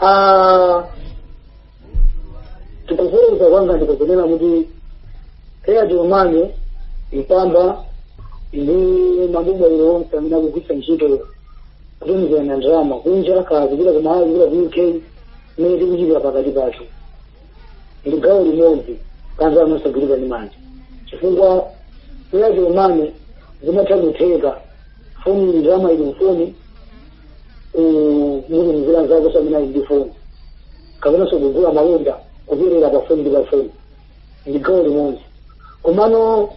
Ah, tikufufuza kwanga ndikunena kuti kaya Airtel money mpamba ndi mabungwe ili onse amene akugwiritsa ntchito kutumizirana ndalama kunja kaya kupita ku malawi kupita ku uk mmene tikuchitira pakati pathu ndi gawo limodzi ka ndalama zosagwirika ndi manja chifukwa kaya Airtel money zimatha kutheka foni ndalama ili mfoni umalipira za ku Admarc ndi foni kapenanso kugula malonda kulipira pa foni ndi pa foni ndi gawo limodzi komano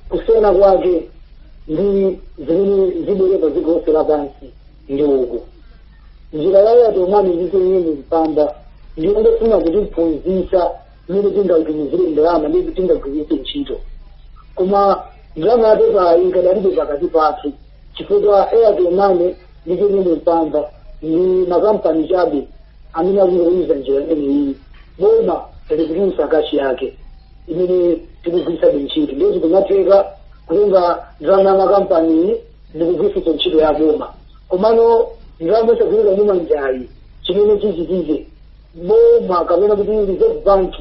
kusiyana kwake ndi zimene zibwere pa dziko lonse lapansi ndi yakuti njira ya Airtel money ndi TNM mpamba ndi ongofuna kutiphunzitsa mmene tingagwirire ndalama ndi tingagwirire ntchito koma ndalama yapepa ikadalipe pakati pathu chifukwa airtel money ndi TNM mpamba ndi makampani chabe amene akungoyuza njira imeneyi boma likutulusa kashi yake imene tikugwiritsa ntchito ndi zikumatheka kutenga ndalama ya makampani ndikugwiritsa ntchito ya boma komano ndalama yosagwirika ndi manjayi chimene chichitike boma kapena kuti reserve bank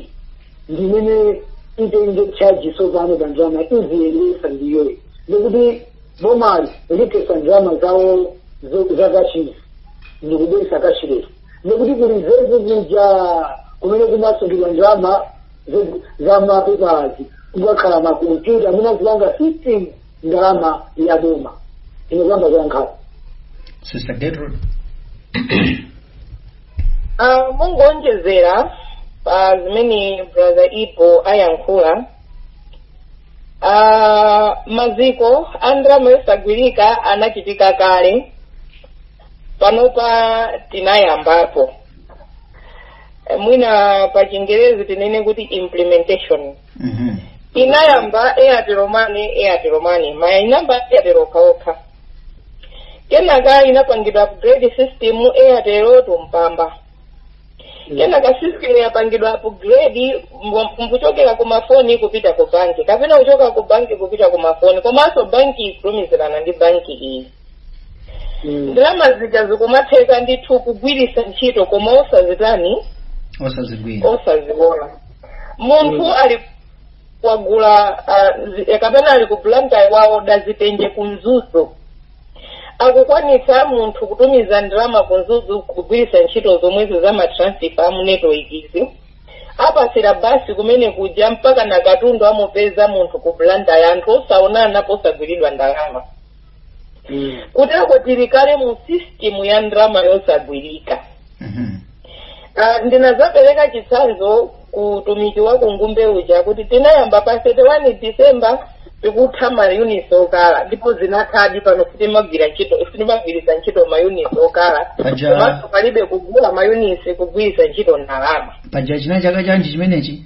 ndimene itenge charge sopano pa ndalama iziyendesa ndiyoyo ndikuti bomali liletsa ndalama za kashizi ndikubweretsa cashless ndikuti ku reserve kuja kumene kumasungidwa ndalama za mapepalazi kukakhala makompyuta amene azipanga system ndalama ya boma ine kaya muyankha sister gertrude Ah, kungoonjezera pa zimene brother ipo ayankhula Ah, maziko a ndalama yosagwirika anachitika kale panopa tinayambapo Eh, mwina pa chingerezi tinene kuti implementation Mhm. inayamba airtel money airtel money muja inayamba airtel okhaokha kenaka inapangidwa upgrade system airtel to mpamba kenaka system yapangidwa upgrade nkuchokera ku mafoni kupita ku banki kapena kuchoka ku banki kupita ku mafoni komanso banki ikutumizirana ndi banki iyi Mm. ndalama zija zikumatheka ndithu kugwiritsa ntchito koma osazitani osazigwira osaziona munthu Mm. ali kugula ah, zi- eh, kapena ali ku blantyre waoda zitenje ku mzuzu akukwanitsa munthu kutumiza ndalama ku mzuzu kugwiritsa ntchito zomwezo za matransifa amu network izi apatsira basi kumene kuja mpaka na katundu amupeza munthu ku blantyre anthu osaonana osagwiridwa ndalama kuteko tili kale mu system ya ndalama yosagwirika Mhm. Ah, ndinazapereka chitsanzo ku utumiki wa kungumbe uja kuti tinayamba pa 31 december tikutha mayunitsi okala ndipo zinathadi pano sitimagwira ntchito sitimagwiritsa ntchito mayunitsi okala Paja- komanso palibe kugula mayunitsi kugwiritsa ntchito ndalama paja china chaka chanji chimenechi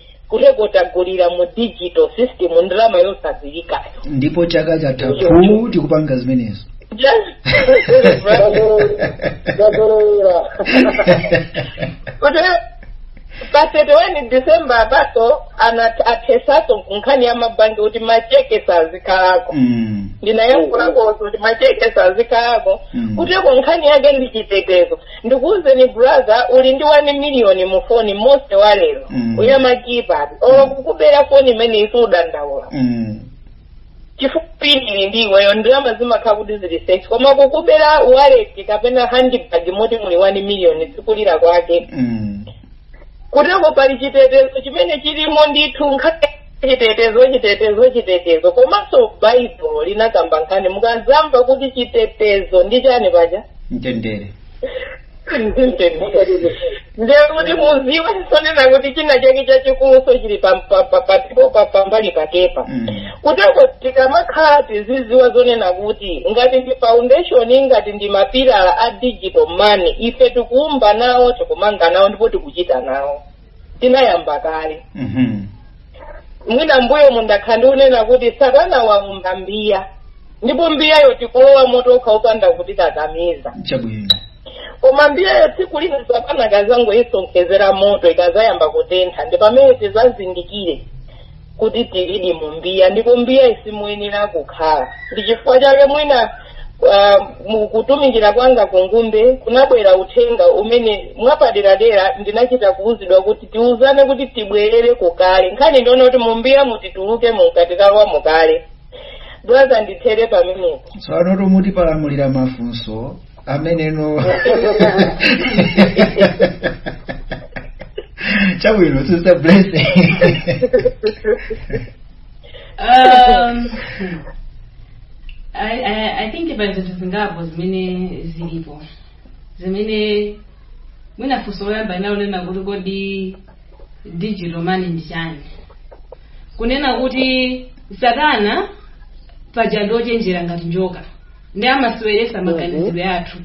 kuteko tagulira mu digital system ndalama yosagwirikayo ndipo chaka chatha phu tikupanga zimenezo ndazolowera kuti pa 31 december apaso ana- athesaso nkhani ya mabanki kuti macheke sazikhalako Mm. ndinayankhulakoso kuti macheke sazikhalako Mm. kuteko nkhani yake ndi chitetezo ndikuwuzeni brother uli ndi 1 miliyoni mu foni mose wa lero Mm. uli ndi ma keypad olo kukubera foni imene sudandaula Mm. chifukwa pin uli ndi iweyo ndalama zimakhala kuti zili safe koma kukubera wallet kapena handbag moti muli 1 miliyoni sikulira kwake Mm. kuteko pali chitetezo chimene chilimo ndithu nkhani chitetezo chitetezo chitetezo komanso baibulo linakamba nkhani mukazamva kuti chitetezo ndi chani paja mtendere ndekuti muziwe zonena kuti china chake chachikuluso chili pam- pa- pa- patipo pa- pambali pakepo Mm. kuteko tikamakhala tiziziwa zonena kuti ngati ndi foundation ngati ndi mapilala a digital money ife tikuumba nawo tikumanga nawo ndipo tikuchita nawo tinayamba kale Mhm. mwina mbuyo mundakhala ndikunena kuti satana waumba mbiya ndipo mbiyayo tikulowa mwa tokha opanda kutikakamiza chabwino koma mbiyayo tsiku lina satana akazangoyisonkhezera moto ikazayamba kutentha ndi pamene tizazindikire kuti tilidi mu mbiya ndipo mbiyayi simuyenera kukhala ndi chifukwa chake mwina uh, mukutumikira kwanga kungumbe kunabwera uthenga umene mwapaderadera ndinachita kuwuzidwa kuti tiwuzane kuti tibwerere kukale nkhani ndione kuti mu mbiya muti tituluke mmene tinkakhalira mukale brother ndithere pamenepo tsopano tomuti palamulira mafunso ameneno chabwino sister blessing um, I, I, I think pali zinthu zingapo zimene zilipo zimene mwina funso loyamba linali lonena kuti kodi digital money ndi chani kunena kuti satana paja ndi ochenjera ngati njoka ndi amasiweretsa maganizidwe athu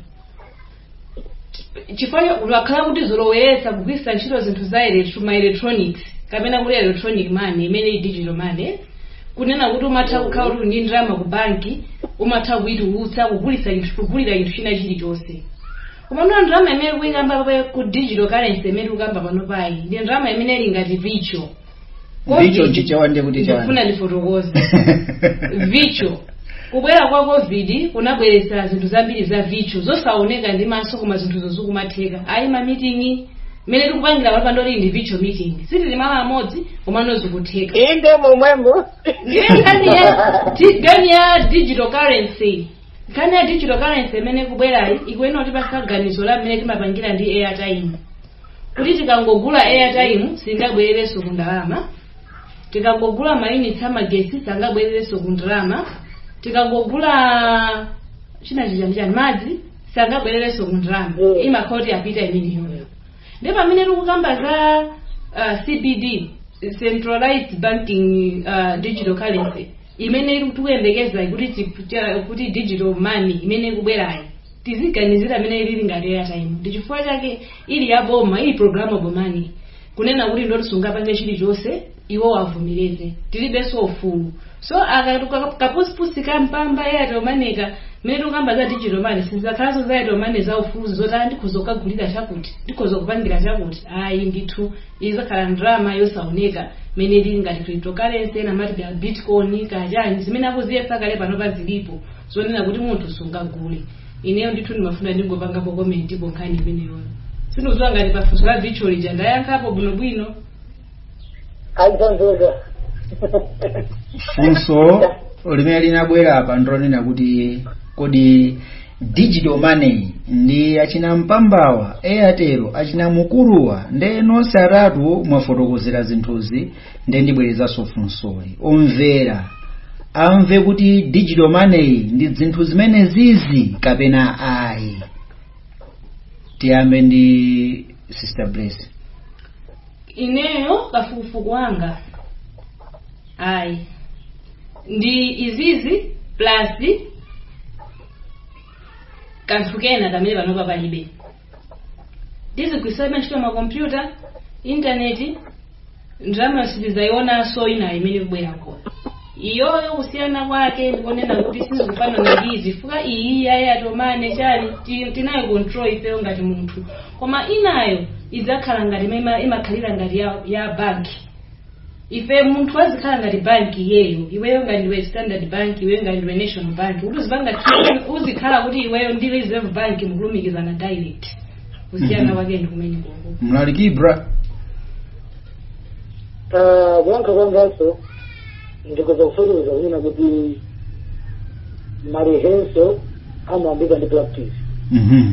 chifukwa wakhala akutizoloweretsa kugwiritsa ntchito zinthu za electro- ma electronics kapena kuti electronic money imene ili digital money kunena kuti umatha kukhala kuti ndi ndalama ku banki umatha kuitulutsa kugulitsa chinthu- kugulira chinthu china chilichonse koma ndiyo ndalama imene tikuyikamba pa- ku digital currency imene tikukamba pano apayi ndi ndalama imene ili ngati virtual vicho chichewa ndiye kuti chani ndikufuna ndifotokoze vicho kubwera kwa covid kunabweretsa zinthu zambiri za vicho zosaoneka ndi maso koma zinthuzo zikumatheka ayi mamiting'i mmene tikupangira apapa ndoti ndi vicho meeting sitili malo amodzi komano zikutheka inde momwemo ndiye nkhani ya di- nkhani ya digital currency nkhani ya digital currency imene kubwerayi ikuyenera kutipasa ganizo la mmene timapangira ndi airtime kuti tikangogula airtime singabwererenso ku ndalama tikangogula mayunitsi amagetsi sangabwererenso ku ndalama tikangogula china chani chani madzi sangabwererenso ku ndalama Mm. imakhala kuti apita imeneyoyo ndi pamene tikukamba za uh, CBD centralized banking uh, digital currency imene ili tikuyembekezayi kuti tip- cha- kuti digital money imene ikubwerayi tiziganizira imene ili ngati airtime ndi chifukwa chake ili ya boma ili programmable money kunena kuti ndoti sungapange chilichonse iwo avomereze tilibenso ufulu so kapusipusi ka mpamba airtel money ka mene tikukamba za digital money sizakhalanso za airtel money za ufulu zoti ah, ndikhoza kukagulira chakuti ndikhoza kupangira chakuti ayi ndithu Izakhala ndalama yosaoneka imene ili ngati cryptocurrency, ena amati kaya bitcoin, kaya chani, zimene akuziyesa kale panopa zilipo zonena kuti munthu sungagule. Ineyo ndithu ndimafuna ndingopangapo comment pa nkhani imeneyoyo. Sindikudziwa ngati pa funso la virtual lija ndayankhapo bwinobwino. Aizonzeka. funso limene linabwera apa ndilonena kuti kodi digital money ndi achina mpambawa airtel achina mukuruwa nde nonse atatu mwafotokozera zinthuzi nde ndibwerezanso funsoli omvera amve kuti digital money ndi zinthu zimene zizi kapena ayi tiyambe ndi sister bless ineyo kafukufuku wanga ayi ndi izizi plus kanthu kena kamene panopa palibe tizigwiritsabe ntchito makompyuta intaneti ndalama sitizayionanso ina imene kubwerako iyoyo kusiyana kwake ndikonena kuti sizikufanana ndi izi fuka iyi ya airtel money chani ti- tinayo control ifeyo ngati munthu koma inayo idzakhala ngati imene ima- imakhalira ngati ya, ya banki Ife munthu azikhala ngati bank iyeyo iweyo ngati ndiwe standard bank iweyo ngati ndiwe national bank kuti uzipanga treat- uzikhala kuti iweyo ndi reserve bank mukulumikizana direct kusiyana Mhm. kwake ndi kumene koko mlaliki bra Ah, kuyankha kwanganso ndikoza kufotokoza kunena kuti ma rehearsal amayambika ndi practice Mhm.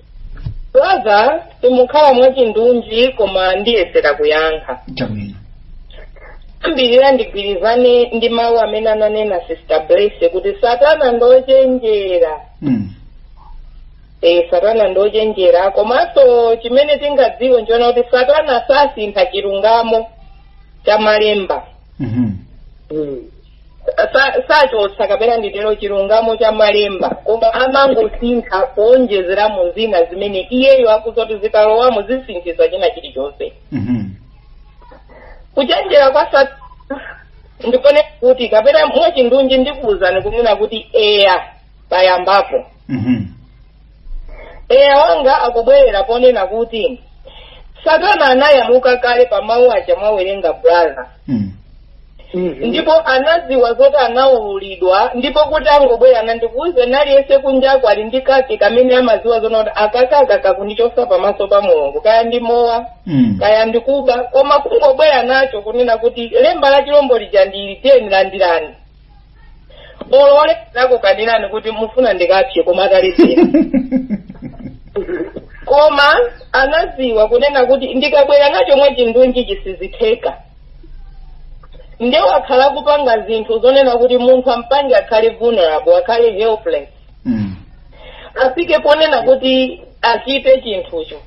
brother sindikhala mwachindunji koma ndiyesera kuyankha chabwino ndiyambira ndigwirizane ndi mawu amene ananena sister blesse kuti satana ndochenjera mm. e, satana ndochenjera komanso chimene tingadziwe nchonena kuti satana sasintha chilungamo cha malemba mm-hmm. Sa- sachotsa kapena nditere chilungamo cha malemba koma amangosintha kuonjezeramo zina zimene iyeyo akudziwa kuti zikalowamo zisinthisa china chilichonse Mhm. kuchenjera kwa satana ndi konena kuti kapena mwachindunji ndikuwuzani kunena kuti eya payambapo Mhm. eya wanga akubwerera ponena kuti satana anayaluka kale pa mawu aja mwawerenga brother Mm. ndipo anadziwa zoti anaululidwa ndipo kuti angobwera nandikuuze naliyese kunjako ali ndi kake kamene amadziwa zonena kuti akakaka kakundichosa pamaso pa mulungu kaya ndi mowa Mm. kaya ndikuba koma kungobwera nacho kunena kuti lemba la chilombo lija ndili tiyeni landirani olo oledzera kukanirani kuti mufuna ndikapse koma akaledzera koma anaziwa kunena kuti ndikabwera nacho mwachindunji chisizitheka nde wakhala kupanga zinthu zonena kuti munthu ampange akhale vulnerable akhale helpless Mm. afike ponena kuti achite chinthucho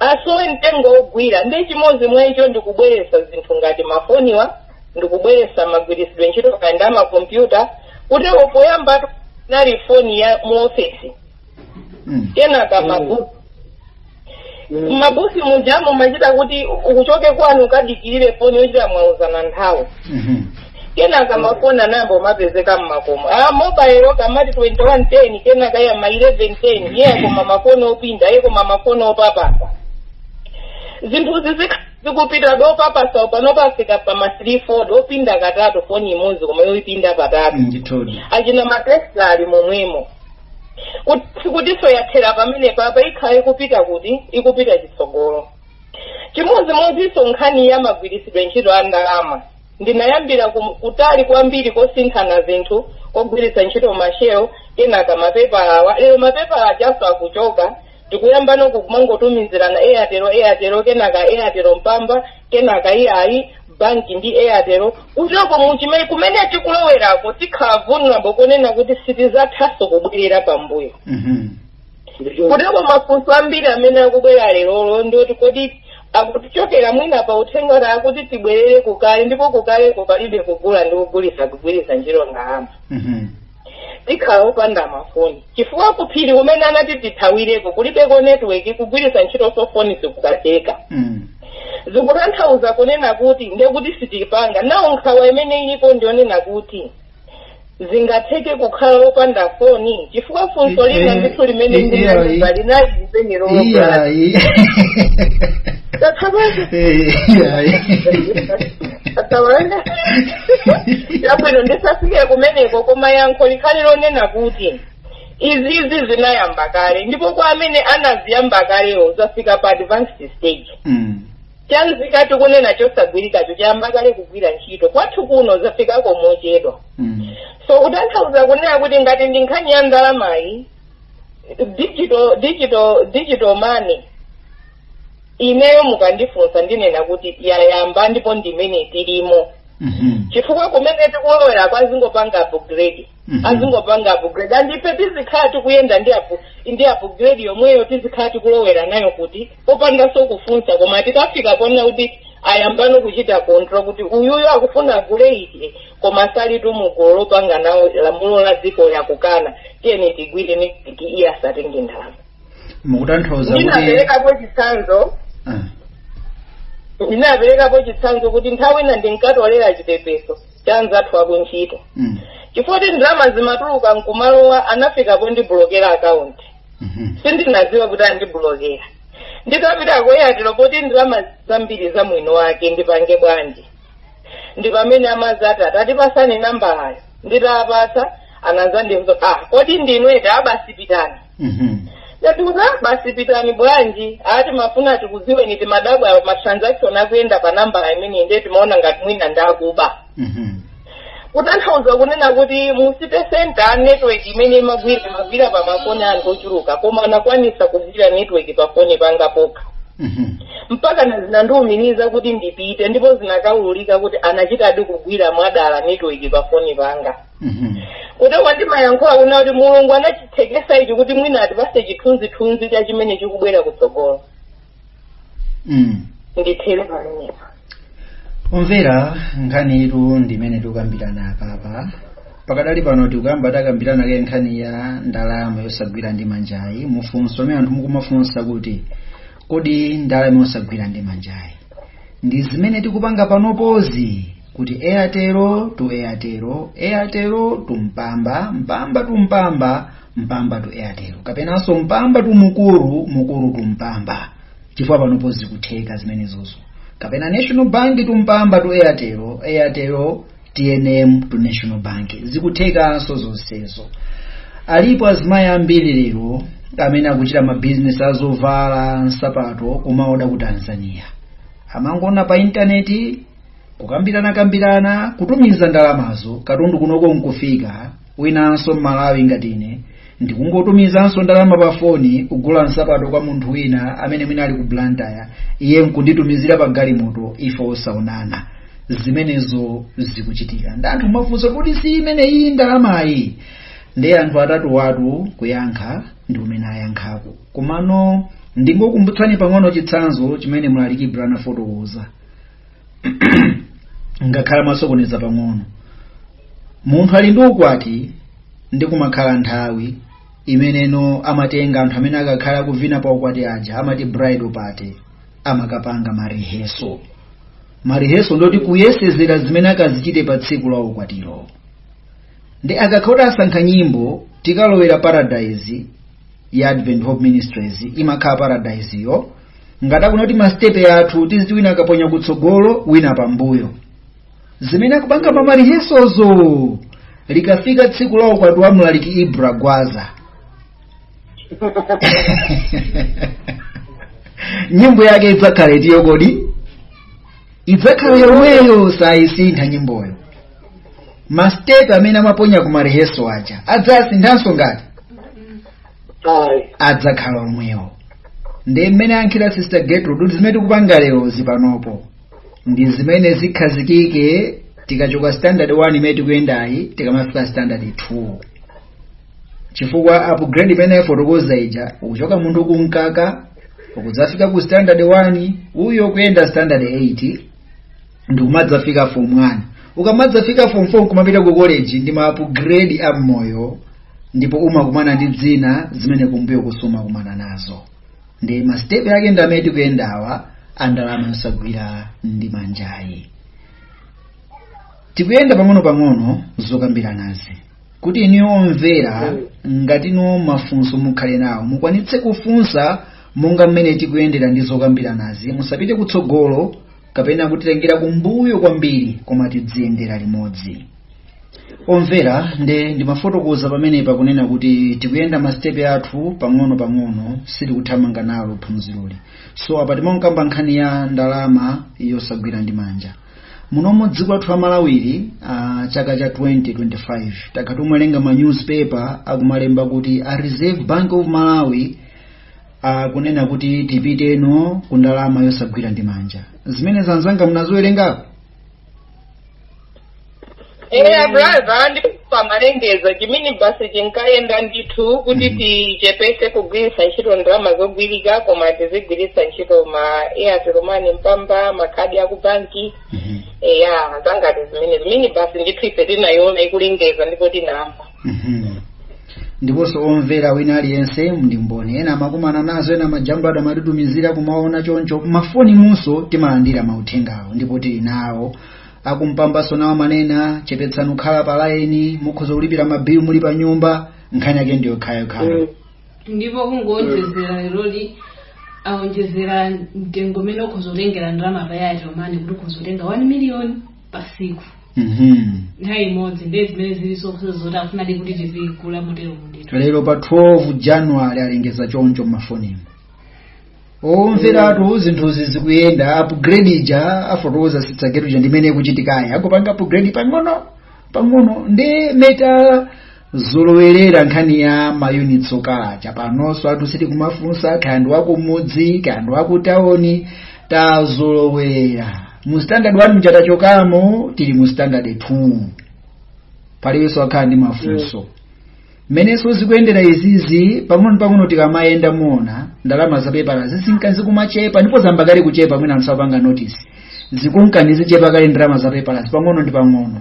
asowe mtengo wogwira ndi chimodzi mwa icho ndikubweretsa zinthu ngati mafoniwa ndikubweretsa magwiritsidwe ntchito kaya nda makompyuta kuti poyamba nali foni ya mu ofesi Mm. kenaka mabooth mabooth muja mumachita kuti ukuchoke kwanu ukadikirire foni yochita mwauzana nthawi Mhm. kenaka mafoni anayamba kumapezeka mmakomo a mobile kamati 2110 kenaka ya ma 1110 eya koma mafoni opinda eya koma mafoni opapasa zinthuzi zik- zikupita touch opapasa pano pafika pa ma 3 fold opinda katatu foni imodzi koma yoipinda patatu ndithudi achina ma Tesla ali momwemo Kuti- sikutiso yathera pamene paja ikhala ikupita kuti ikupita chitsogolo chimodzimodzinso nkhani ya magwiritsidwe ntchito a ndalama Ndinayambira ku kutali kwambiri kosinthana zinthu kugwiritsa ntchito mashelo kenaka mapepalawa lero mapepala ajaso akuchoka tikuyambano kumangotumizirana Airtel Airtel kenaka Airtel Mpamba kenaka iyayi banki ndi Airtel kuteroko muchimene kumene tikulowerako tikhala vulnerable konena kuti sitizathanso kubwerera pambuyo kuteko mafunso ambiri amene akubwera lerolo ndioti kodi akutichokera mwina pa uthenga kuti akuti tibwerere kukale ndipo kukaleko palibe kugula ndi kugulisa kugwiritsa ntchito ndalama tikhala opanda mafoni chifukwa kuphiri kumene anati tithawireko kulibeko netiweki kugwiritsa ntchito cellphone sikukatheka zikutanthauza kunena kuti ndekuti sitipanga nawo nkhawa imene ilipo ndionena kuti zingatheke kukhala wopanda foni chifukwa funso lina ndithu limene eh, ndinazimva eh, linali limene lomwe yabwino ndisafike kumeneko koma yankho likhale lonena kuti izizi zinayamba kale ndipo kwa amene anaziyamba kalewo zafika pa advanced stage cha nzika tikunena chosagwirikacho chayamba kale kugwira ntchito kwathu kuno zafikako mochedwa so kutanthauza kunena kuti ngati ndi nkhani ya ndalamayi digital digital money ineyo mukandifunsa ndinena kuti yayamba ndipo ndimene tilimo chifukwa kumene tikulowera ko azingopanga upgrade Mhm. azingopanga upgrade and ife tizikhala tikuyenda ndi apu ndi upgrade yomweyo tizikhala tikulowera nayo kuti popandanso kufunsa koma tikafika poona kuti ayambano kuchita control kuti uyuyo akufuna agule ichi koma sali mugulu lopanga nawo lamulo la dziko akukana tiyeni tigwireni kuti iye asatenge ndalama mukutanthauza kuti ndinaperekapo chitsanzo ndinaperekapo chitsanzo kuti nthawi ina ndinkatolera chipepeso cha anzathu akuntchito chifukwa kuti ndalama zimatuluka nkumalowa anafika pondibulokera akaunti sindinaziwa kuti andibulokera nditapita ku Airtel poti ndalamazi zambiri za mwini wake ndipange bwanji ndi pamene amazati ah tatipasani nambalayo nditapasa anazandiuza ah kodi ndinu eti ah basi pitani Mhm. ndati kuti "Ah, basi pitani bwanji ati timafuna tikuziweni timadabwa ma transaction akuyenda pa nambala imeneyi ndiye timaona ngati mwina ndakuba kutanthauza kunena kuti mu city center network imene imagwira imagwira pa mafoni a anthu ochuluka koma anakwanisa kugwira network pa foni panga pokha mpakana zinandiumiriza kuti ndipite ndipo zinakaululika kuti anachitadi kugwira mwadala network pa foni panga Mhm. kuti ndimayankhula kunena kuti mulungu anachithekesa ichi kuti mwina atipase chithunzithunzi cha chimene chikubwera kutsogolo Mm. ndithere pamenepo omvera nkhaniyitu ndi imene tikukambirana apapa pakadali pano tikuyamba takambirana kaye nkhani ya ndalama yosagwira ndi manjayi mafunso amene anthu mukumafunsa kuti kodi ndalama yosagwira ndi manjayi ndi zimene tikupanga panopozi kuti airtel to airtel airtel to mpamba mpamba to mpamba mpamba to airtel kapenanso mpamba to mukuru mukuru to mpamba chifukwa panopo zikutheka zimenezozo kapena national bank to mpamba to airtel airtel tnm to national bank zikuthekanso zonsezo alipo azimayi ambiri lero amene akuchita mabizinesi azovala nsapato kumaoda ku tanzania amangoona pa intaneti kukambiranakambirana kutumiza ndalamazo katundu kunoko nkufika winanso mmalawi ngati ine ndikungotumizanso ndalama pa foni kugula nsapato kwa munthu wina amene mwina ali ku blantyre iye nkunditumizira pa galimoto ife osaonana zimenezo zikuchitika ndiye anthu amafunsa kuti si imene iyi ndalamayi ndiye anthu atatuwatu kuyankha ndi mmene ayankhako komano ndingokumbutsani pang'ono chitsanzo chimene mlaliki ibra anafotokoza ngakhale amasokoneza pang'ono munthu ali ndi ukwati ndiye kumakhala nthawi imeneno amatenga anthu amene akakhale akuvina pa ukwati aja amati bridal party amakapanga mariheso mariheso ndoti kuyesezera zimene akazichite pa tsiku la ukwatiro ndiye akakhala kuti asankha nyimbo tikalowera paradise ya advent hope ministries imakhala paradise yo ngati akuna kuti masitepe athu tiziti wina akaponya kutsogolo wina pambuyo zimene akupanga pamarihesozo likafika tsiku la ukwati wa mlaliki ibra gwaza nyimbo yake idzakhala itiyo kodi idzakhala yomweyo sayisintha nyimboyo masitepe amene amaponya ku mareheso aja adzasinthanso ngati ayi adzakhala omwewo ndiye mmene ayankhira sister gertrude kuti zimene tikupanga lerozi panopo ndi zimene zikhazikike tikachoka standard 1 imene tikuyendayi tikamafika standard 2 chifukwa upgrade imene afotokoza ija ukuchoka munthu kumkaka ukudzafika ku standard 1 uyo kuyenda standard 8 ndikumadzafika form 1 ukamadzafika form 4 kumapita ku college ndi ma upgrade a moyo ndipo umakumana ndi zina zimene kumbuyo sumakumana nazo ndi masitepe ake ndi amene tikuyendawa a ndalama yosagwira ndi manjayi tikuyenda pang'ono-pang'ono zokambiranazi kuti inuyo omvera ngati ndinu mafunso mukhale nawo mukwanitse kufunsa monga mmene tikuyendera ndi zokambiranazi musapite kutsogolo kapena kutitengera kumbuyo kwambiri koma tidziyendera limodzi omvera nde ndimafotokoza pamenepa kunena kuti tikuyenda masitepe athu pang'ono pang'ono sitikuthamanga nalo phunziroli so apa timakamba nkhani ya ndalama yosagwira ndi manja muno m'dziko lathu la malawili uh, chaka cha 2025 takhala tikuwerenga ma newspaper akumalemba kuti a reserve bank of malawi akunena kuti tipite tsono ku ndalama yosagwira ndi manja zimenezo anzanga munaziwerengapo eya brother ndipo amalengeza chimidzi basi chinkayenda ndithu kuti tichepetse kugwiritsa ntchito ndalama zogwirika koma tizigwiritsa ntchito ma airtel money mpamba makhadi akubanki eya za ngati zimenezi basi ndithu ife tinayiona ikulengeza ndipo tinamva Mhm. ndiponso omvera wina aliyense ndi mboni ena amakumana nazo ena majambado amatitumizira kumaona choncho m'mafonimunso timalandira mauthengawo ndipo tili nawo a ku mpambanso nawo amanena chepetsani kukhala pa laini mukhoza kulipira mabilu muli pa nyumba nkhani yake ndi yokhayokhayo ndipo kungoonjezera leroli aonjezera mtengo umene ukhoza kutengera ndalama pa airtel money kuti ukhoza kutenga 1 million patsiku Mhm. nthawi imodzi ndiye zimene zili zokhudza zoti afunadi kuti tizigula motero mundito lero pa 12 january alengeza choncho mmafonimu omveratu zinthuzi zikuyenda upgrade ija afotokoza sister Ketu ija ndimene ikuchitikayi akupanga upgrade pang'ono pang'ono ndiye ta zolowerera nkhani ya mayunitsi okachaja panonso anthu sitikumafunsa kaya ndi wakumudzi kaya ndi wakutawoni tazolowerera mu standard 1 mja tachokamo tili mu standard 2 palibenso akhala ndi mafunso mmenenso zikuyendera izizi pang'ono pang'ono tikamayenda muona ndalama za pepala zizinka zikumachepa ndipo zayamba kale kuchepa mwina anthu sakupanga notice zikunka zichepa kale ndalama za pepala pang'ono ndi pang'ono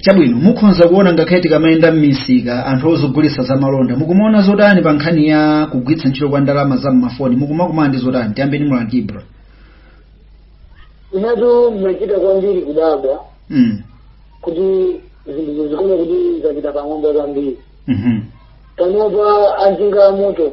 chabwino mukhonza kuona ngakhale tikamayenda m'misika anthu ogulitsa za malonda mukumaona zotani pa nkhani ya kugwiritsa ntchito kwa ndalama za mmafoni mukumakumana ndi zotani tiyambe ndi mu brother inetu mmachita kwambiri kudabwa mm. kuti zinthu zikuoneka kuti zapita patsogolo kwambiri mhm. panopa anjinga amoto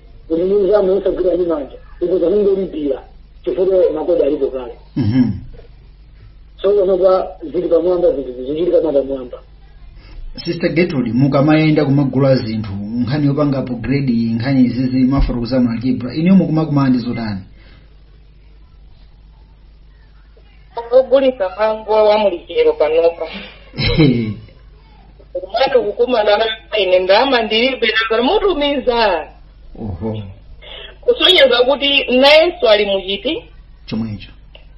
kuti ndi nzama yosagwira ndi manja ukuza kungolipira chifukwa makodi alipo kale Mhm. so panopa zili pamwamba zinthu zichitika mwapamwamba sister gertrude mukamayenda kumagula zinthu nkhani yopanga upgrade nkhani izizi amafotokoza mu algebra inuyo mukumakumana ndi zotani ogulitsa mango wa mu lichero panopa umati kukumana na ine ndalama ndilibe nanga mutumiza oho kusonyeza kuti nayenso ali muchiti chomwecho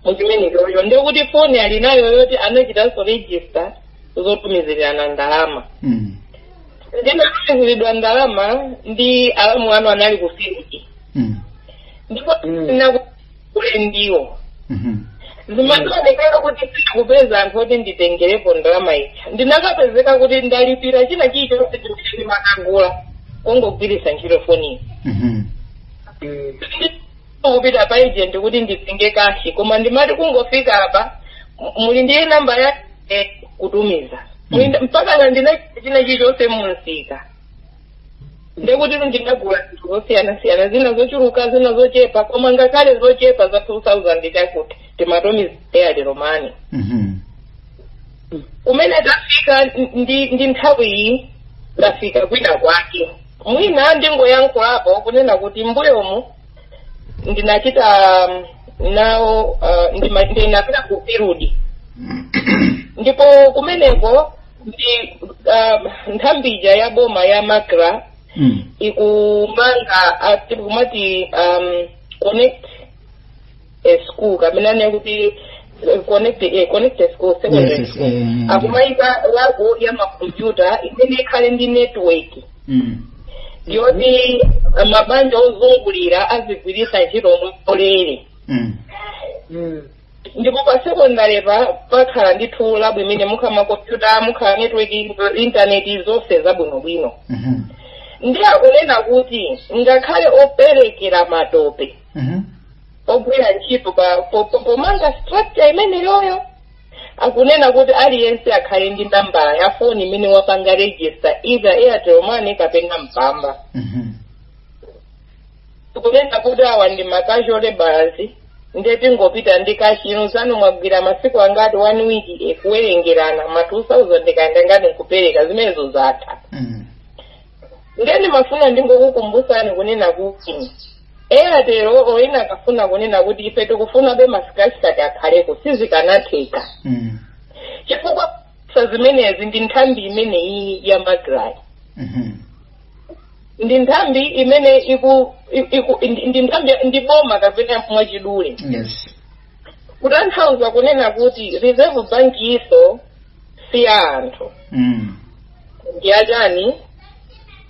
muchimenechocho ndiye kuti foni ali nayo yoti anachitanso register zotumizirana ndalama mm. ndinatumiziridwa ndalama ndi alamu anu anali ku field mm. ndipo Mm. ndinaku ule ndiwo Mhm. zimandionekera kuti sindikupeza anthu oti nditengerepo ndalama ija ndinakapezeka kuti ndalipira china chilichonse chimene ndimakagula kungogwiritsa ntchito foniyo Mhm. kupita pa agent kuti nditenge kashi koma ndimati kungofika apa m- muli ndiye namba ya eh, kutumiza Muli ndi- mpaka na ndina china chilichonse mumsika ndekuti ndinagula zinthu zosiyanasiyana zina zochuluka zina zochepa koma ngakhale zochepa za 2000 chakuti timatumiza airtel money Mhm. kumene tafika ndi, ndi nthawi iyi tafika kwina kwake mwina ndingoyankhulapo kunena kuti mbuyomu ndinachita um, nawo uh, ndima- ndinapita ku field ndipo kumeneko ndi uh, nthambi ija ya boma ya macra mm. ikumanga ati akumati um, connect a school kapena ndinene kuti eh, connect eh, connect a school secondary Yes, yes, school eh, eh, akumayika labo ya makompyuta imene ikhale ndi network Mm. yoti eh, mabanja ozungulira azigwiritsa ntchito mwaulere Mm. Mm. ndipo pa sekondalepa pakhala ndithu labu imene mukhala makompyuta mukhala network intaneti zonse zabwinobwino Mhm. nde akunena kuti ngakhale operekera matope Mhm. ogwira ntchito pa- po- po- pomanga structure imeneyoyo akunena kuti aliyense akhale ndi nambala ya foni imene wapanga register either airtel money kapena mpamba Mhm. tikunena kuti awa ndi ma casual labourers nde tingopita ndi kashino zanu mwagwira masiku angati one week nkuwerengerana ma 2000 kaya ndi angati nkupereka zimenezo zatha Mm. ndiye ndimafuna ndingokukumbusani kunena kuti airtel inakafuna kunena kuti ife tikufunabe ma scratch card akhaleko sizikanatheka Mm. chifukwa cha zimenezi ndi nthambi imeneyi ya macrayi Mhm. ndi nthambi imene iku, iku ndi- ndi nthambi ndi boma kapena mwachidule yes kutanthauza kunena kuti reserve bank iso si ya anthu mm. ndi ya chani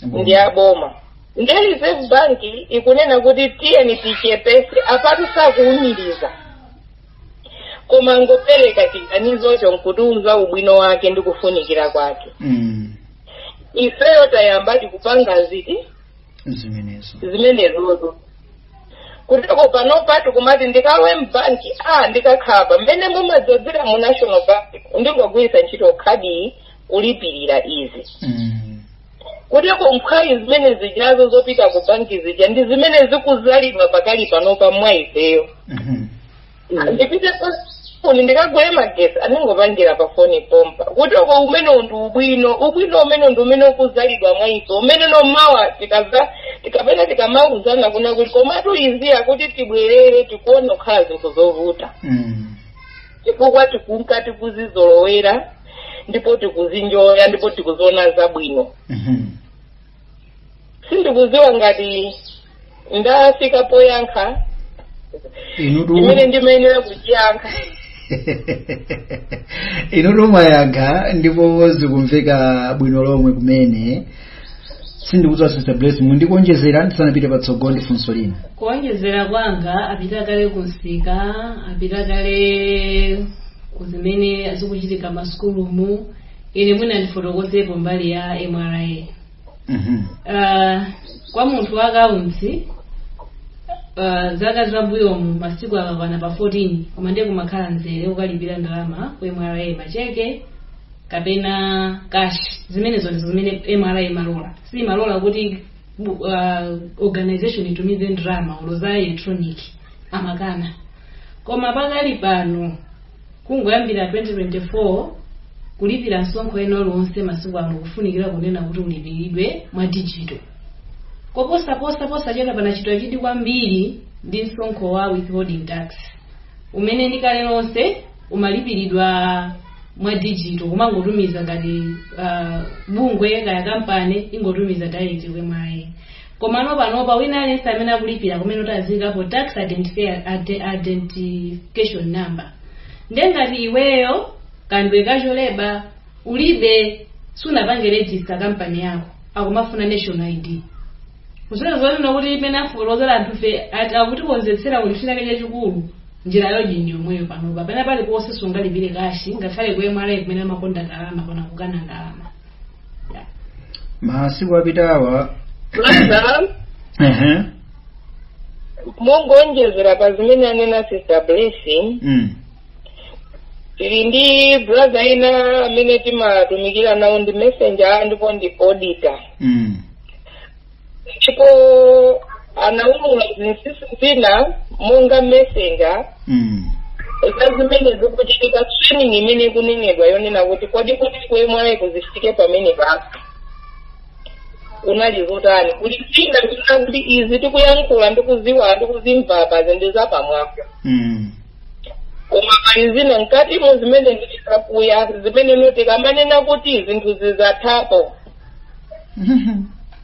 ndi ya boma ndiye reserve bank ikunena kuti tiyeni tichepese apatu sakuumiriza koma kungopereka chiganizocho nkutiuza ubwino wake ndi kufunikira kwake mm. ifeyo tayamba tikupanga zinthu zimenezo zimenezozo kuteko panopa tikumati ndikalowe mbanki a ndikakhala mmene mumadzadzira mu national bank ndingogwiritsa ntchito khadi kulipirira izi Mm. kuteko mphwayi zimene zijazo zopita ku banki zija ndi zimene zikuzalidwa pakali panopa mwa ifeyo Mhm. ndipite pa foni ndikagule magetsi a ndingopangira pa foni pompa kuteko umenewo ndi ubwino ubwino umenewo ndi umene ukuzalidwa mwa ife umene nomawa tikadza tikapena tikamauzana kunena kuti komatu izi akuti tibwerere tikuona kukhala zinthu zovuta Mm. chifukwa tikunka tikuzizolowera ndipo tikuzinjoya ndipo tikuziona zabwino Mhm. sindikudziwa ngati ndafika poyankha inutu imene ndimayenera kuchiyankha inutu mwayankha ndipo zikumveka bwino lomwe kumene sindikudziwa sister bless muli ndi kuonjezera ndisanapite patsogolo ndi funso lina kuonjezera kwanga apita kale kumsika apita kale ku zimene zikuchitika masukulumu ine mwina ndifotokozepo mbali ya mra Mhm. Ah, kwa munthu wa accounts ah, zaka zambuyomu masiku akakwana pa 14 koma ndiye kumakhala mzere ukalipira ndalama ku mra macheke kapena cash zimenezo ndizo zimene mra imalola si imalola kuti bu- ah, organization itumize ndalama kaya za electronic amakana koma pakali pano Kungoyambira 2024, kulipira msonkho wena uliwonse masiku ano kufunikira kunena kuti ulipiridwe mwa digital. Koposaposa, posachedwa panachitika chidwi kwambiri ndi msonkho wa withholding tax, umene ndi kale lonse umalipiridwa mwa digital, kumangotumiza ngati ah, bungwe kaya kampani ingotumiza direct kwa MRA. Komano panopa wina aliyense amene akulipira kumene kuti aziyikapo tax identifi- ade- identification number nde ngati iweyo ndiwe casual labour ulibe sunapange register kampani yako akumafuna national id kusonyeza kunena kuti imene afotokozera anzathu kuti akutikonzetsera kuti chinake chachikulu njira yoji ndi yomweyo panopa pena paliponse sungalipire kashi ngakhale ku mra kumene amakonda ndalama akuonakukana ndalama masiku apitawa Masa, ehe mongoonjezera pa zimene anena sister blessing mm. tili ndi brother ina amene timatumikira nawo ndi messenger ndipo ndi auditor mm. ndipo anaulula zinsinsi zina monga messenger Mm. za zimene zikuchitika training imene ikunenedwa yonena kuti kodi kuti kuemwayi kuzifike pamene pasi kunali zotani kuti zina zina ngati izi tikuyankhula ndikuziwa ndikuzimva pazi ndi zapamwamba Mm. koma pali zina mkati mu zimene ndi zakuya zimene ndikamanena kuti zinthu zizathapo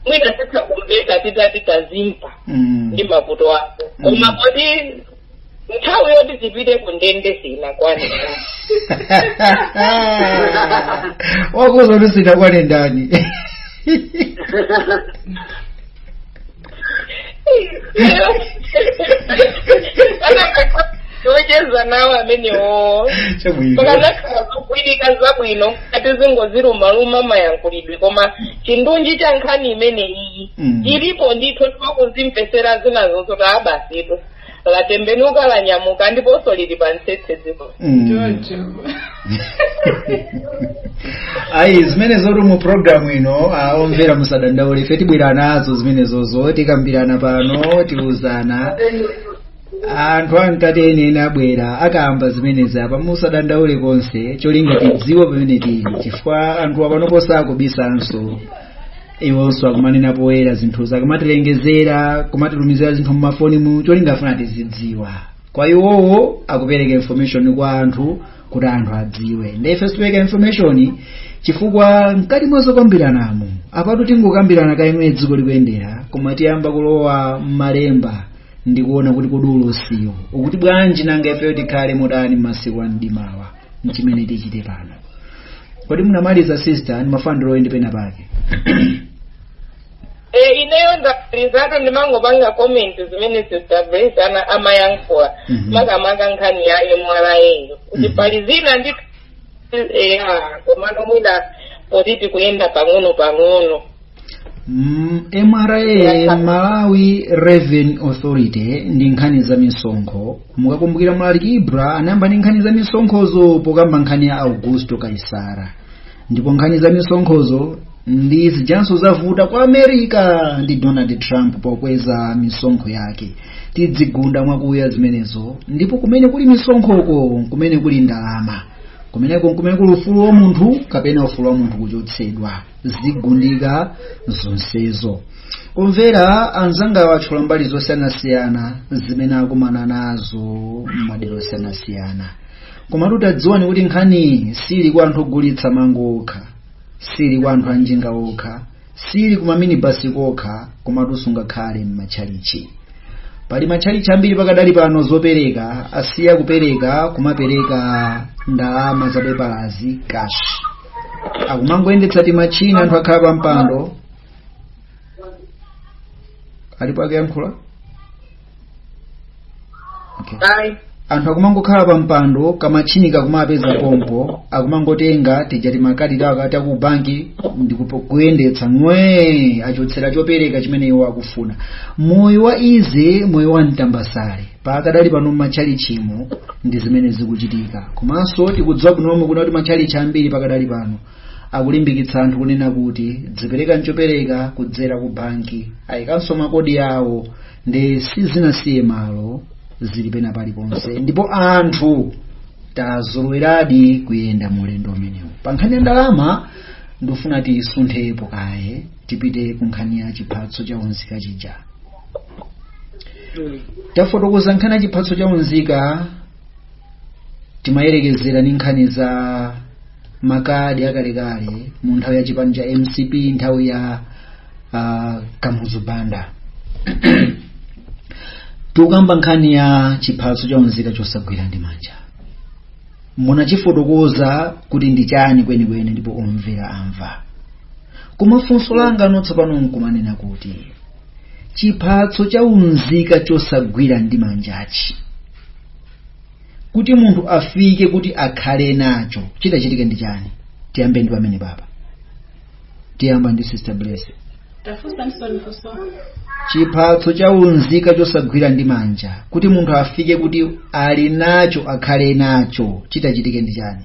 mwina titha kumveka zitati zamveka Mm. ndi mavuto ako Mm. koma kodi nthawi yoti tizipita ku ndende sinakwane wakuuza kuti sinakwane ndani ocheza nawo amenewo chabwino pakazakhala zogwirika zabwino ati tingoziluma-luma mayankhulidwe koma chindunji cha nkhani imene iyi Mm. ilipo ndithu tinakazimvetsera zinazo zoti abasitu latembenuka lanyamuka ndiponso lili pa mtsetse dziko Mm. choncho ayi zimenezo tu mu programu ino ah, omvera musadandaule ife tibwera nazo zimenezozo tikambirana pano tiuzana anthu akuti enieni abwera akakamba zimenezi apa musadandaule konse cholinga tidziwe pamene tili chifukwa anthu apanopo sakubisanso iwonso akumanena poyera zinthuzo akumatilengezera kumatitumizira zinthu mumafoni mu cholinga afuna tizidziwa kwa iwowo akupereka information kwa anthu kuti anthu adziwe nde ife tipereka information chifukwa mkati mwa zokambiranamo apatu tingokambirana kammene dziko likuyendera koma tiyamba kulowa m'malemba ndikuona kuti kodi ulosiwo ukuti bwanji nanga ifeyo tikhale motani m'masiku a mdimawa nchimene tichite pano kodi munamaliza sister ndimafuna ndilowe pena pake e ineyo ndamalizatu ndimangopanga comment zimene sister Blessing amayankhula Mhm. makamaka nkhani ya mra yo kuti Mhm. pali zina ndi eya komano mwina poti tikuyenda pang'ono pang'ono Mm, mra malawi revenue authority ndi nkhani za misonkho mukakumbukira mlaliki ibra anayamba ndi nkhani za misonkhozo pokamba nkhani ya augusto kaisara ndipo nkhani za misonkhozo ndi zijanso zavuta ku america ndi donald trump pokweza misonkho yake tidzigunda mwakuya zimenezo ndipo kumene kuli misonkhoko kumene kuli ndalama kumeneko kumene kuli ufulu wa munthu kapena ufulu wa munthu kuchotsedwa zigundika zonsezo kumvera anzangawa atchula mbali zosiyanasiyana zimene akumana nazo m'madera osiyanasiyana komatu tadziwani kuti nkhani sili kwa anthu ogulitsa mango okha sili kwa anthu anjinga okha sili ku maminibasi kokha komatuso ngakhale m'matchalichi pali matchalichi ambiri pakadali pano zopereka asiya kupereka kumapereka ndalama zapepalazi cash akumangoyendetsa timachini anthu akhala pa mpando alipo akuyankhula okay. anthu akumangokhala pa mpando kamachini kakumawapeza pompo akumangotenga tija timakadi tawo akati aku banki ndikuyendetsa ng'wee achotsera chopereka chimene iwo akufuna moyo wa easy moyo wa mtambasale pakadali pano m'matchalichimo ndi zimene zikuchitika komanso tikudziwa bwino lomwe kuti matchalichi ambiri pakadali pano akulimbikitsa anthu kunena kuti dziperekani chopereka kudzera ku banki ayikanso makodi awo ndi sizinasiye malo zili pena paliponse ndipo anthu tazoloweradi kuyenda mu ulendo umenewu pa nkhani ya ndalama ndifuna tisunthepo kaye tipite ku nkhani ya chiphatso cha unzika chija tafotokoza nkhani ya chiphatso cha unzika timayerekezera ndi nkhani za makadi akalekale mu nthawi ya chipani cha mcp nthawi ya uh, kamuzu banda tikukamba nkhani ya chiphatso cha unzika chosagwira ndi manja munachifotokoza kuti ndi chani kwenikweni ndipo omvera amva koma funso langa tsopano nkumanena kuti chiphatso cha unzika chosagwira ndi manjachi kuti munthu afike kuti akhale nacho chitachitike ndi chani tiyambe ndi pamenepapa tiyamba ndi sister bless chiphatso cha unzika chosagwira ndi manja kuti munthu afike kuti ali nacho akhale nacho chitachitike ndi chani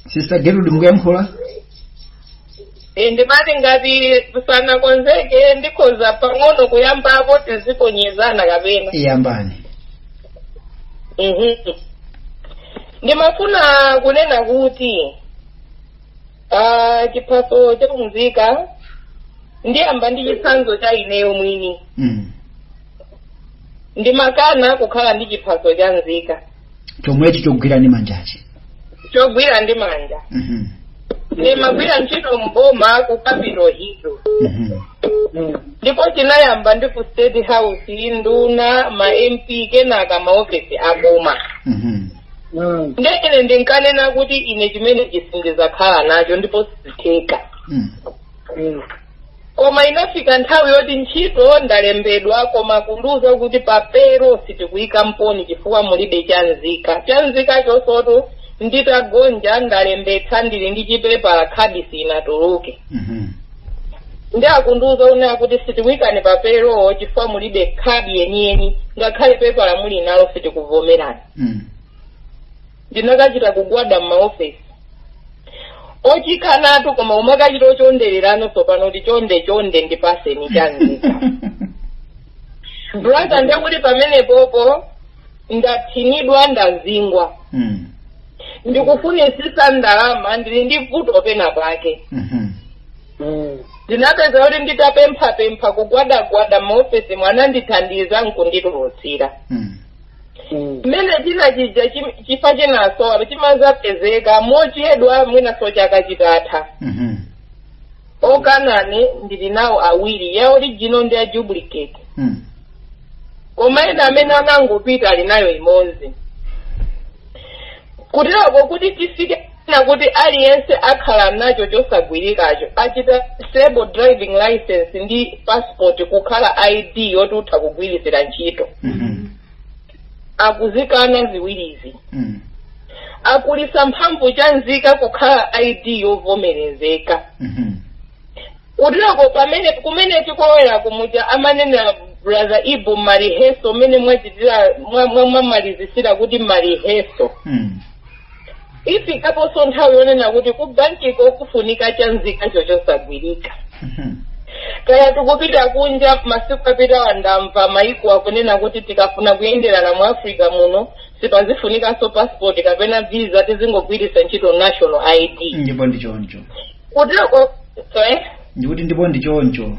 sister gertrude mukuyankhula Eh, ndimati ngati uku sanakonzeke ndikhoza pang'ono kuyambapo tiziponyezana kapena iyambani Mhm. ndimafuna kunena kuti ah, chiphaso cha unzika ndiyamba ndi chitsanzo cha ineyo mwini mm. ndimakana kukhala ndi chiphaso cha nzika chomwechi chogwira ndi manjachi chogwira ndi manja Mhm, ndimagwira ntchito mboma ku capital hill mhm. ndipo chinayamba ndi ku state house nduna ma mp kenaka maofesi a boma Mhm. nde ine ndinkanena kuti ine chimene chisindizakhala nacho ndipo sizitheka Mm. koma inafika nthawi yoti ntchito ndalembedwa koma kundiuza kuti pa payroll sitikuyika mponi chifukwa mulibe chanzika chanzika chonsecho nditagonja ndalembetsa ndili ndi chipepala khadi sinatuluke Mhm. ndi akundiuza kunena kuti sitikuyikani pa payroll chifukwa mulibe khadi yeniyeni ngakhale pepala muli nalo sitikuvomerani Mm. ndinakachita kugwada m'maofesi wochikanatu koma umakachita wochonderera tsopano kuti chonde chonde ndipaseni chanzika brother ndekuti pamenepopo ndathinidwa ndazingwa Mm. ndikufunisisa ndalama ndili ndi vuto pena pake Mhm. ndinapezeka kuti nditapemphapempha kugwadagwada m'maofesimu anandithandiza nkunditulutsira Mm. mmene china chija chim- chifa chinaso apa chimadzapezeka mochedwa mwinaso chaka chitatha Mhm. okana ine ndili nawo awiri ya original ndi ya duplicate Mm. koma ena amene anangopita ali nayo imodzi kuterako kuti tifike na kuti aliyense akhala nacho chosagwirikacho achita disable driving license ndi passport kukhala id yoti utha kugwiritsira ntchito Mhm. akuzikana ziwirizi Mm. akulitsa mphamvu cha nzika kukhala id yovomerezeka Mhm. kuteroko pamene kumene tikolowera kumuja amanena brother ibu mariheso mmene mwachitira mwa- mwa- mwamalizitsira kuti mariheso Mm. ifikaponso nthawi yonena kuti ku bankiko kufunika chanzikacho chosagwirika Mhm. kaya tikupita kunja masiku apitawa ndamva maiko akunena kuti tikafuna kuyenderana mu africa muno sipazifunikanso passport kapena visa tizingogwiritsa ntchito national id ndipo ndi choncho kuteroko eh? ndikuti ndipo ndi choncho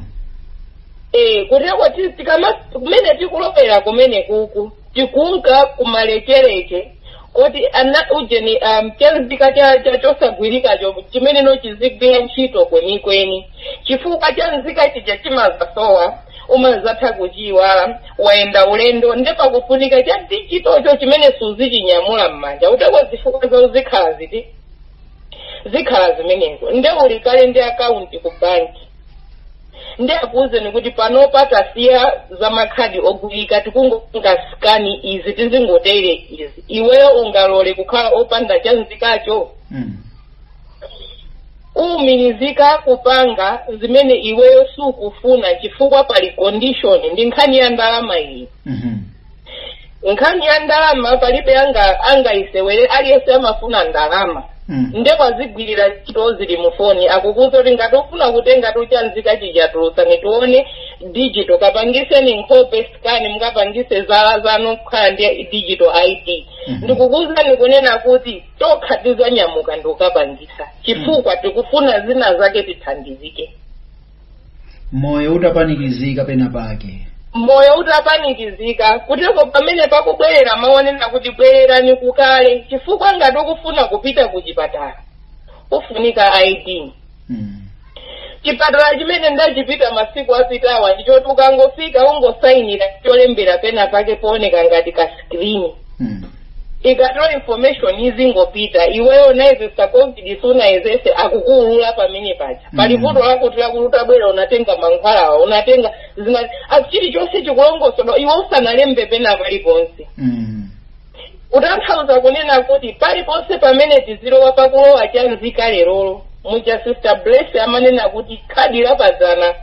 Eh, kuteroko ti- tikama kumene tikulowera kumene kuku tikunka kumalecheleche kuti ana ujeni um, chanzika cha, cha chosagwirikacho chimene no chizigwira ntchito kwenikweni chifukwa cha nzika chija chimadzasowa umadzatha kuchiyiwala wayenda ulendo nde pakufunika cha digital-cho chimene suzichinyamula m'manja kuteroko zifukwa za uzikhala ziti zikhala zimenezo nde uli kale ndi akaunti ku banki nde akuwuzeni kuti panopa tasiya za makhadi ogulika tikungopanga sikani izi tizingotere izi iweyo ungalole kukhala opanda chanzikacho Mm. umirizika kupanga zimene iweyo sukufuna chifukwa pali condition ndi nkhani ya ndalama iyi Mhm. nkhani ya ndalama palibe angayisewere aliyense amafuna ndalama Mm. nde kwazigwirira ntchito zili mu foni akukuuza kuti ngati ufuna kutenga tu chanzika chija tulusani tione digital kapangiseni nkhope scan mukapangise zala zanu kukhala ndi digital id Mhm. ndikukuuzani kunena kuti tokha tizanyamuka ndikukapangisa chifukwa tikufuna zina zake tithandizike moyo utapanikizika pena pake moyo utapanikizika kuteko pamene pakubwerera mau onena kuti bwererani kukale chifukwa ngati ukufuna kupita ku chipatala kufunika id mm. chipatala chimene ndachipita masiku apitawa ndichoti ukangofika ungosayinira cholembera pena pake pooneka ngati ka skrini mm. ikatola information izingopita iweyo unayezesa covid sunayezese akukuulula pamene paja pali Mm. vuto lako ndilakuti utabwera unatenga mankhwalawa unatenga zina ah, chilichonse chikulongosoledwa iwe usanalembe pena paliponse Mm. kutanthauza kunena kuti paliponse pamene tizilowa pakulowa cha nzika lerolo muja sister bless amanena kuti khadi lapadzana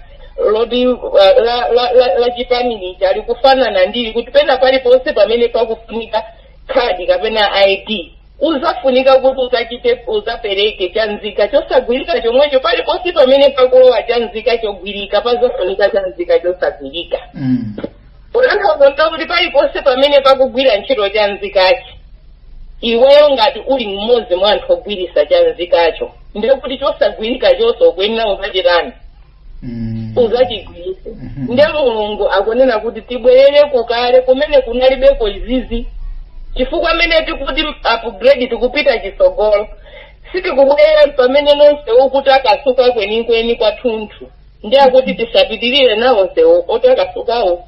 loti uh, la, la, la, la chipani lija likufanana ndili kuti pena paliponse pamene pakufunika khadi kapena id uzafunika kuti uzachite uzapereke cha nzika chosagwirika chomwecho paliponse pamene pakulowa cha nzika chogwirika pazafunika cha nzika chosagwirika Mm. kutanthauza kuti paliponse pamene pakugwira ntchito cha nzikachi iweyo ngati uli mmodzi mwa anthu ogwirisa cha nzikacho nde kuti chosagwirikachonso ukuyenera uzachitani Mm. uzachigwiritse Mhm. nde mulungu akunena kuti tibwerere kukale kumene kunalibeko izizi chifukwa amene tikuti upgrade tikupita chisogolo sitikubwerera pamene nonse uku ndi kutakasuka kwenikweni kwathunthu nde akuti tisapitirire nawo msewu otakasukawo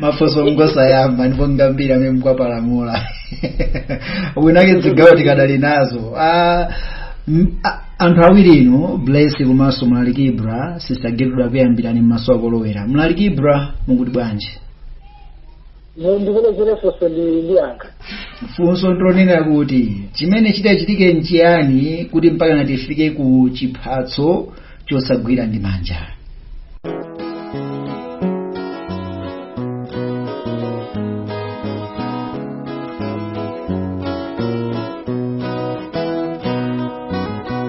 mafunso ngosayamba ndipo ngambiri amene mkwapalamula winake zigawo tikadali nazo Ah, m- a- anthu awiri inu bless komanso mlaliki ibra sister gertrude akuyambirani m'maso akolowera mlaliki ibra mukuti bwanji ndipelekere funso ndiyankha funso ndi lonena kuti chimene chidachitike nchiyani kuti mpakana tifike ku chiphatso chosagwira ndi manja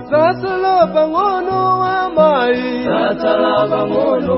Sasala pang'ono wa mai Sasala pang'ono